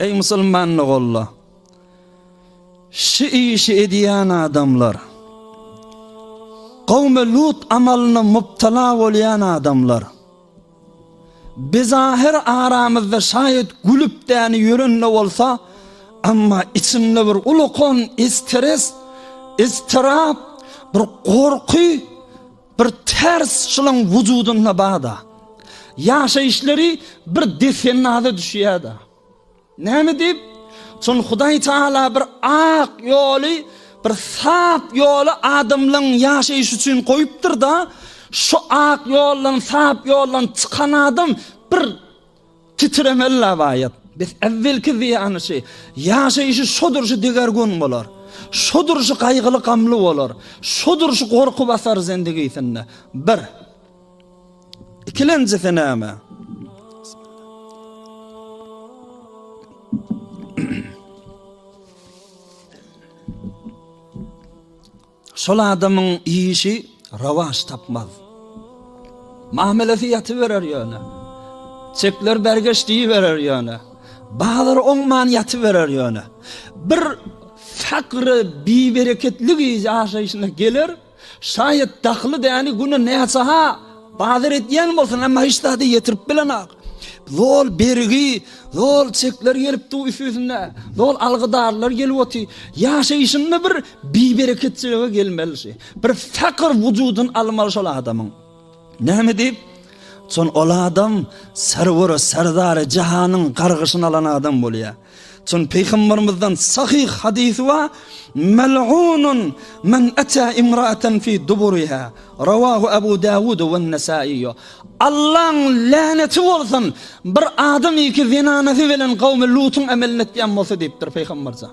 Eý musulman ogullar! Şu işi edýän adamlar, gowmy Lut amalyna mubtala bolýan adamlar, biz ahyr aramyzda şaýat gülüp-dänip ýören-de bolsa, emma içinde bir ulukan stres, iztirap, bir gorky, Bir ters şylyň wujudynda bada. Ýaşaýyşlary bir desennaza düşýärdi. Näme diýip? Çün Hudaý Taala bir ak ýoly, bir sap ýoly adamlaryň ýaşaýyşy üçin goýupdyr-da, şu ak ýoldan, sap ýoldan çykan adam bir Titremeli labaýat. Biz äwwelki zyýany şi. Ýaşaýşy şo durşy deger gün bolar. Şo durşy gaýgyly gamly bolar. Şo durşy gorky basar zendigisinde. Bir. Ikilenjisi näme? Şol adamyň işi rowaç tapmaz. Mamelesi ýatyberer ýöne. Çekler bergeç diýiberer ýöne. Bazar oňman ýatyberer ýöne. Bir fakry bibereketligi ýaşaýşyna geler, şaýat dahly däni güne näçe-ha bazar edýän bolsun, emma hiç zady ýetirip bilenok. Zol bergi, zol çekler gelip dur üstüsine, zol algydarlar gelip otyr. Ýaşaýşynda bir Bibereketçilige gelmelişi. Bir takyr wujudyny almaly şol adamyň. Näme diýip? Çon ol adam Serweri, Serdary jahanyň gargyşyny alan adam bolýar. Çon Peýgamberimizden sahyh hadysy bar, Mel'unun men ata imra'atan fi duburiha. Rawahu Abu Dawud we Nesai. Allaň läneti bolsun bir adam iki zenanasy bilen gawmy Lutyň amelini etýän bolsa diýipdir Peýgamberjan.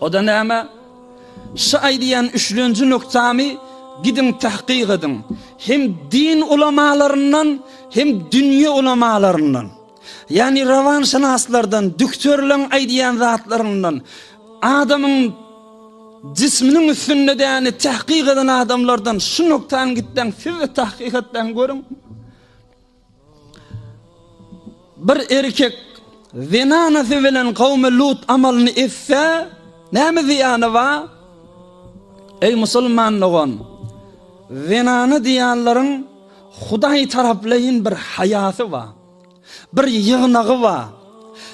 O-da näme? Şu aýdýan üçlenji nukdamy gidiň tahkyk ediň. Hem din ulamalaryndan, hem dünýe ulamalaryndan, ýagny rawanşynaslardan, dükterleň aýdýan zatlaryndan, adamyň jisminiň üstünde däni tahkyk eden adamlardan şu nukdany gitseň siz-de tahkyk etseň görüň. Bir erkek zenanasy bilen kawmy Lut amalyny etse, näme zyýany bar? Eý musulman dogan, zenana diýýänleriň Hudaý taraplaýyn bir haýasy bar, bir ýygnagy bar.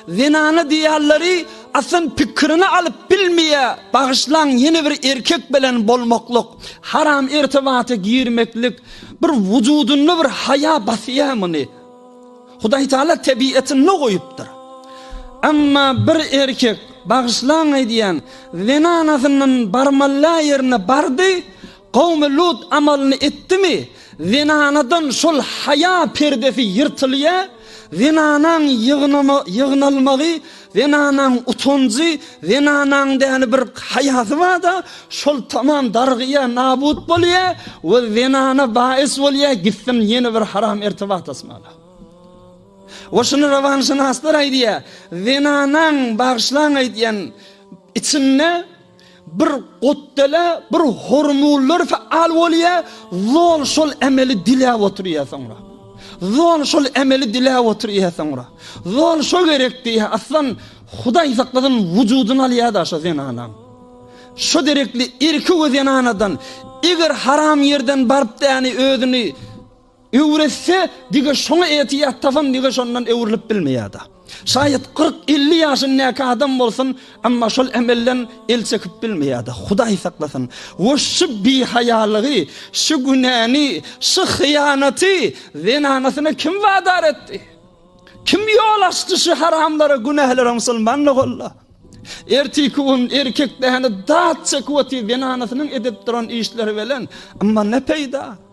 Zenana diýýanleri asyn pikirini alyp bilmeýä bagyşlaň ýene bir erkek bilen bolmaklyk haram ertebata girmeklik bir wujudynda bir haýa basýa muny Hudaý taala tebiýetinde goýupdyr Emma bir erkek bagyşlaň aýdýan zenanasyndan barmalla ýerine bardy Gawmy Lut amalyny etdimi, zenanadan şol haýa perdesi ýyrtylýa, zenanaň ýygnama ýygnalmagy, zenanaň utanjy, zenanaň däli bir haýasy barda, şol tamam darygýa, nabut bolýa we zenana baýys bolýa gitsin ýene bir haram ertibat asmana. We şuny rawanşynaslar aýdýa, zenanaň bagyşlaň aýdýan içinde Bir gutdele bir hormullar faal bolýa, zol şol emeli diläp oturýa soňra. Zol şol emeli diläp oturýa soňra. Zol şo gerek diýä, aslan Hudaý sakladan wujudyny alýa da şo zenanaň. Şo derekli irki we zenanadan eger haram ýerden baryp däni özüni Öwretse, dige şoňa etiýat tapan dige şondan öwrülip bilmeýärda. Şaýat kyrk, elli ýaşyndäki adam bolsun, emma şol emelden el çekip bilmeýärda. Hudaý saklasyn. We şu bihaýalygy, şu günäni, şu hyýanaty zenanasyna kim wadar etdi? Kim ýol açdy şu haramlara, günählere musulman nowalla? Ertiki gün erkek däne dat çekip otyr zenanasynyň edip duran işleri belen, emma ne peýda?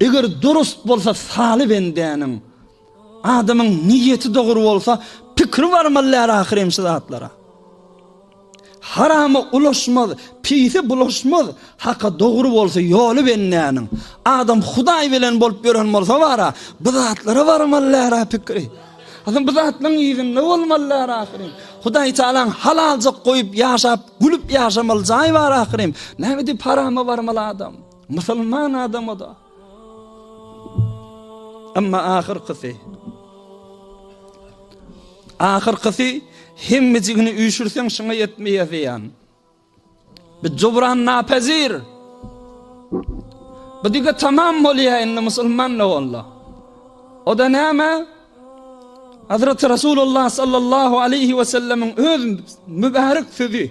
Eger durust bolsa saly bendäniň, adamyň niýeti dogry bolsa, pikri barmazlar ahyrem şu zatlara. Harama ulaşmaz, pise bulaşmaz, haka dogry bolsa ýoly bendäniň. Adam Hudaý bilen bolup ýören bolsa bara, bu zatlara barmazlar a pikri. Adam bu zatlaryň yzynda bolmazlar ahyrem. Hudaý Taalaň halalja goýup ýaşap, gülüp ýaşamaly jaý bar ahyrem. Näme diýip harama barmaly adam? Musulman adama-da. Emma ahyrkysy. Ahyrkysy hemmejigini üýşürseň şuňa ýetmeýär diýen. Bu jubran napezir. Bu dige tamam bolýar indi musulman ne oldu? O da näme? Hazreti Resulullah sallallahu aleyhi ve sellemin öz mübarek sözü.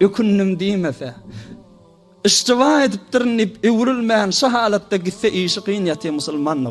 Ökündim diýmese. Yşjyba edipdirin diýip öwrülmän şu halatda gitse işi kyn ýaty musulmandygy.